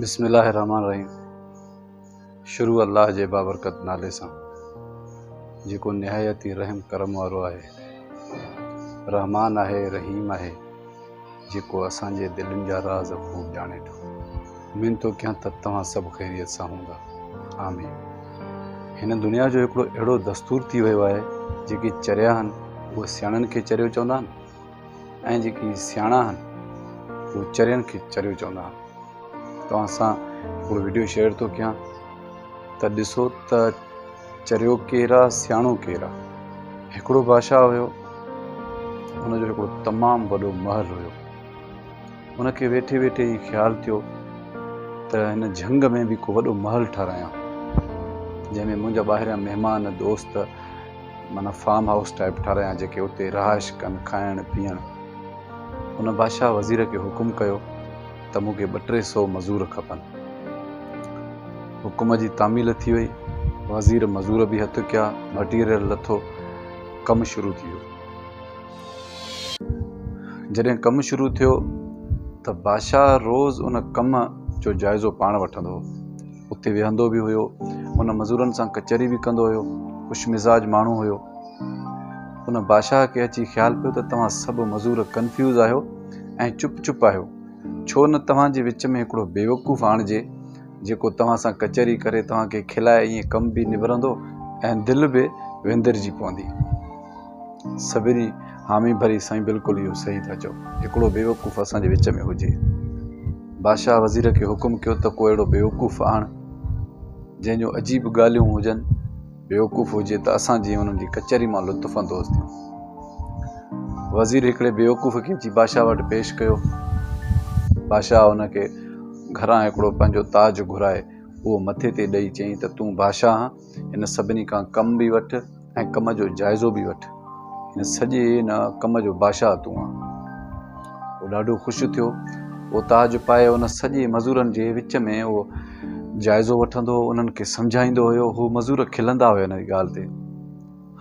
بسم الله الرحمٰن الرحيم شروع الله جي بابرڪت نالي سان جيڪو نهايت ئي رحم ڪرم وارو آهي رحمان آهي رحيم آهي جيڪو اسان جي دلين جا راز خوب ڄاڻي ٿو اميد ٿو ڪيان ته توهان سڀ خيريت سان هوندا آمين هن دنيا جو هڪڙو اهڙو دستور ٿي ويو آهي جيڪي چريا آهن اهي سياڻن کي چريو چوندا آهن ۽ جيڪي سياڻا آهن اهي چرين کي چريو چوندا آهن توهان سان هڪڙو ويڊيو شيئر ٿو ڪيان ته ڏسو ته چريو ڪير آهي سياڻو ڪير آهي هڪڙو بادشاهه هيو ان جو هڪڙو تمام وڏو محل هيو ان کي ويٺي ويٺي هي خيال ٿيو ته هن جهنگ ۾ به هڪ وڏو محل ٺهرايان جنهن ۾ منهنجا ٻاهريان مهمان دوست معنيٰ فارم هائوس ٽائيپ ٺارايان جيڪي اتي رهائش ڪن، کائڻ پيئڻ. ان بادشاهه وزير کي حڪم ڪيو ته مون کي ٻه ٽي سو مزور کپن. حڪم جي تعميل ٿي وئي، وزير مزور به هٿ ڪيا، مٽيريل لٿو، ڪم شروع ٿي ويو. جڏهن ڪم شروع ٿيو ته بادشاهه روز ان ڪم جو جائزو پاڻ وٺندو هو. اتي ويهندو به هيو. ان مزورن سان ڪچهري به ڪندو هيو. خوش مزاج ماڻهو هيو. ان بادشاهه کي اچي خيال پيو ته توهان سڀ مزور ڪنفيوز آهيو ۽ چپ چپ آهيو. ڇو نه توهان جي وچ ۾ هڪڙو بيوقوف آڻجي جيڪو توهان سان ڪچهري ڪري توهان کي کلائي ائين ڪم به نبرندو ۽ دل به وندرجي پوندي. سبري، حامي ڀري، سائين بلڪل اهو صحيح ٿا چئو. هڪڙو بيوقوف اسان جي وچ ۾ هجي. بادشاهه وزير کي حڪم ڪيو ته ڪو اهڙو بيوقوف آڻ جنهن جون عجيب ڳالهيون هجن. بيوقوف هجي ته اسان جيئن انهن جي ڪچهري مان لطف اندوز ٿيون. وزير هڪڙي بيوقوف کي اچي بادشاهه وٽ پيش ڪيو. بادشاهه ان کي گهران هڪڙو پنهنجو تاج گهرائي اهو مٿي تي ڏئي چيائين ته تون بادشاهه آن. هن سڀني کان ڪم به وٺ ۽ ڪم جو جائزو به وٺ. هن سڄي هن ڪم جو بادشاهه تون آن. هو ڏاڍو خوش ٿيو. هو تاج پائي هن سڄي مزورن جي وچ ۾ اهو جائزو وٺندو هو، انهن کي سمجهائيندو هيو. هو مزور کلندا هيا هن جي ڳالهه تي.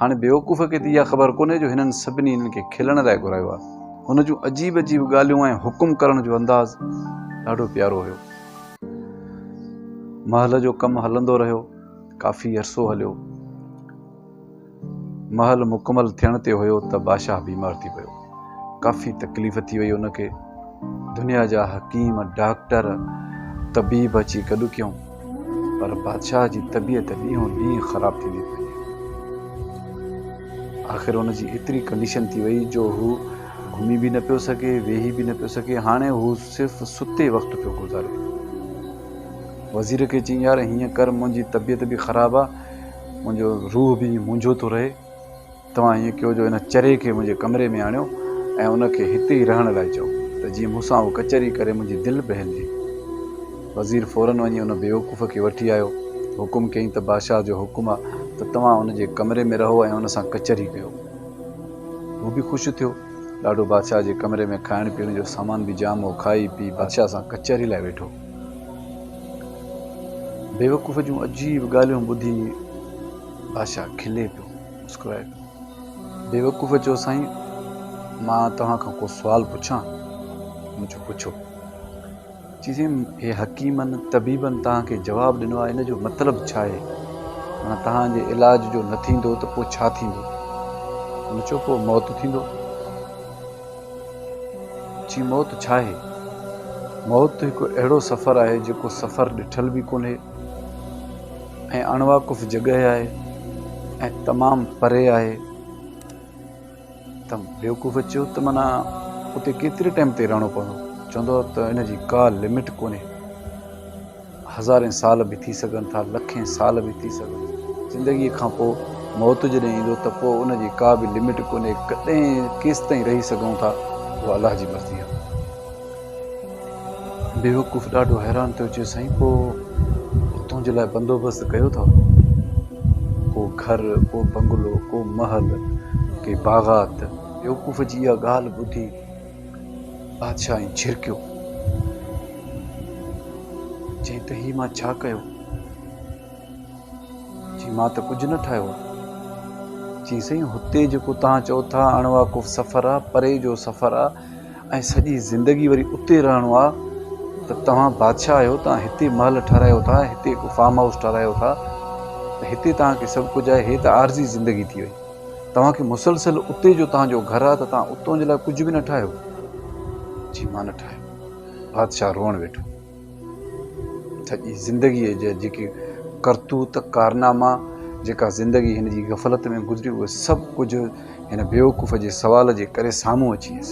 هاڻي بيوقوف کي ته اها خبر ڪونهي جو هنن سڀني هنن کي کلڻ لاء گهرايو آهي. هن جون عجيب عجيب ڳالهيون ۽ حڪم ڪرڻ جو انداز ڏاڍو پيارو هيو. محل جو ڪم هلندو رهيو. ڪافي عرصو هليو. محل مڪمل ٿيڻ تي هيو ته باشاهه بيمار ٿي پيو. ڪافي تڪليف ٿي وئي ان کي، دنيا جا حڪيم، ڊاڪٽر، طبيب اچي گڏ ڪيون پر بادشاهه جي طبيعت ڏينهون ڏينهن خراب ٿيندي پئي. آخر ان جي ايتري ڪنڊيشن ٿي وئي جو هو گهمي به نه پيو سگهي، ويهي به نه پيو سگهي، هاڻي هو صرف ستي وقت پيو گذاري. وزير کي چيائين يار هيئن ڪر منهنجي طبيعت به خراب آ، منهنجو روح به منهنجو ٿو رهي، توهان ائين ڪيو جو ان چري کي منهنجي ڪمري ۾ آڻيو ۽ ان کي هتي ئي رهڻ لاء چئو ته جيئن مون سان اهو ڪچهري ڪري منهنجي دل بهلجي. وزير فورن وڃي ان بيوقوف کي وٺي آيو. حڪم ڪيائين ته بادشاهه جو حڪم آ ته توهان ان جي ڪمري ۾ رهو ۽ ان سان ڪچهري ڪيو. هو به خوش ٿيو. ڏاڏو بادشاهه جي ڪمري ۾ کائڻ پيئڻ جو سامان به جام هو. کائي پي بادشاهه سان ڪچهري لاء ويٺو. بيوقوف جون عجيب ڳالهيون ٻڌي بادشاهه کلي پيو. مسڪرائي بيوقوف چيو سائين مان توهان کان ڪو سوال پڇان؟ مون چيو پڇو. چي سائين هي حڪيمن طبيبن توهان کي جواب ڏنو آهي ان جو مطلب ڇا آهي؟ معنيٰ توهان جي علاج جو نه ٿيندو ته پوء ڇا ٿيندو؟ مون چيو پوء موت ٿيندو. چي موت ڇا آهي؟ موت هڪ اهڙو سفر آهي جيڪو سفر ڏٺل به ڪونهي. ۽ اڻواقف جڳهه آهي ۽ تمام پري آهي ته بيوقوف چيو ته معنيٰ اتي ڪيتري ٽائيم تائين رهڻو پوندو چوندو ته ان جي ڪا لمٽ ڪونهي هزارين سال به ٿي سگهن ٿا لکين سال به ٿي سگهن زندگي کان پوء موت جڏهن ايندو ته پوء ان جي ڪا به لمٽ ڪونهي ڪڏهن ڪيستائين رهي سگهون ٿا اها الله جي مرضي آهي بيوقوف ڏاڍو حيران ٿيو، چيو سائين پوء تنهنجي لاء بندوبست ڪيو اٿئو؟ ڪو گهر، ڪو بنگلو، ڪو محل، ڪي باغات؟ بيوقوف جي اها ڳالهه ٻڌي بادشاهه ائين جهرڪيو، چيائين ته هي مان ڇا ڪيو؟ چيائين مان ته ڪجهه نه ٺاهيو آهي. چيائين سائين هتي جيڪو توهان چئو ٿا اڻواقف سفر آهي، پري جو سفر آهي. ۽ سڄي زندگي وري اتي رهڻو آ ته توهان بادشاهه آهيو توهان هتي محل ٺهرايو ٿا هتي هڪ فارم هائوس ٺهرايو ٿا ته هتي توهان کي سڀ ڪجهه آهي هي ته عارضي زندگي ٿي وئي توهان کي مسلسل اتي جو توهان جو گهر آ ته توهان اتو جي لاء ڪجهه به نه ٺاهيو جي مان نه ٺاهيو بادشاهه روئڻ ويٺو سڄي زندگيء جا جيڪي ڪرتوت ڪارناما، جيڪا زندگي هن جي غفلت ۾ گذري، اهي سڀ ڪجهه هن بيوقوف جي سوال جي ڪري سامهون اچي ويس.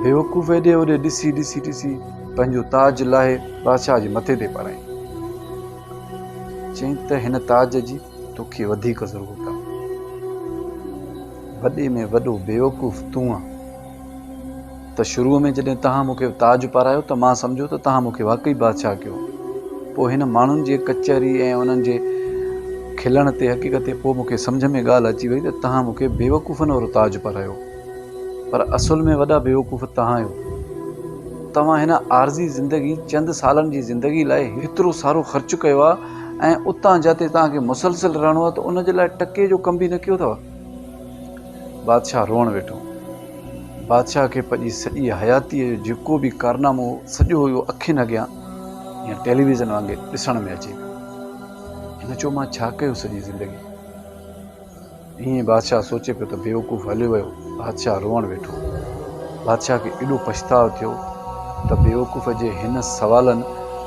بيوقوف هيڏي هوڏي ڏسي ڏسي ڏسي پنهنجو تاج لاهي بادشاهه جي مٿي تي پرائين. چيائين ته هن تاج جي توکي وڌيڪ ضرورت آهي. وڏي ۾ وڏو بيوقوف تون آهين. ته شروع ۾ جڏهن توهان مون کي تاج پارايو ته مان سمجهيو ته توهان مون کي واقعي بادشاهه ڪيو. پوء هن ماڻهن جي ڪچهري ۽ انهن جي کلڻ تي حقيقت تي پوء مون کي سمجهه ۾ ڳالهه اچي وئي ته توهان مون کي بيوقوفن وارو تاج پارايو. پر اصل ۾ وڏا بيوقوف توهان آهيو. توهان هن عارضي زندگي، چند سالن جي زندگي، لاء هيترو سارو خرچ ڪيو آهي ۽ اتان جاتي توهان کي مسلسل رهڻو آهي ته ان جي لاء ٽڪي جو ڪم به نه ڪيو اٿو. بادشاهه روئڻ ويٺو. بادشاهه کي پنهنجي سڄي حياتيء جو جيڪو به ڪارنامو هو، سڄو اهو اکين اڳيان جيئن ٽيليويزن وانگي ڏسڻ ۾ اچي پيو. هن چيو، مان ڇا ڪيو سڄي زندگي؟ ائين بادشاهه سوچي پيو ته بيوقوف هليو ويو. بادشاهه روئڻ ويٺو. بادشاهه کي ايڏو پڇتاء ٿيو ته بيوقوف جي هن سوالن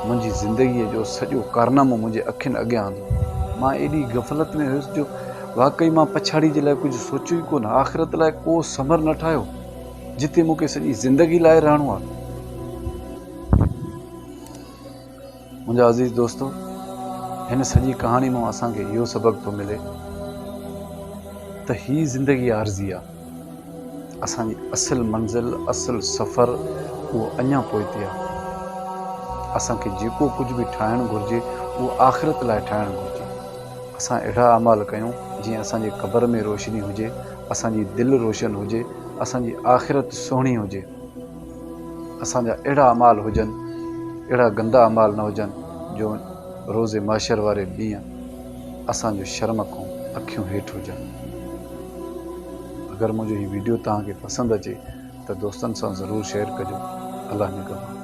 منهنجي زندگيء جو سڄو ڪارنامو منهنجي اکين اڳيان آندو. مان ايڏي غفلت ۾ هيس جو واقعي مان پڇاڙيء جي لاء ڪجهه سوچيو ئي ڪونه، آخرت لاء ڪو ثمر نه ٺاهيو، جتي مون کي سڄي زندگي لاء رهڻو آهي. منهنجا عزيز دوستو! هن سڄي ڪهاڻي مان اسان کي اهو سبق ٿو ملي ته هي زندگي عارضي آهي. اسان جي اصل منزل اصل سفر اهو اڃا پوئتي آهي اسان کي جيڪو ڪجهه به ٺاهڻ گهرجي اهو آخرت لاء ٺاهڻ گهرجي اسان اهڙا اعمال ڪيون جيئن اسان جي قبر ۾ روشني هجي اسان جي دل روشن هجي اسان جي آخرت سهڻي هجي اسان جا اهڙا اعمال هجن اهڙا گندا اعمال نه هجن جو روز محشر واري ڏينهن اسان جو شرم کون اکيون هيٺ هجن. اگر منهنجو هي ويڊيو توهان کي پسند اچي ته دوستن سان ضرور شيئر ڪجو. الله نگهبان.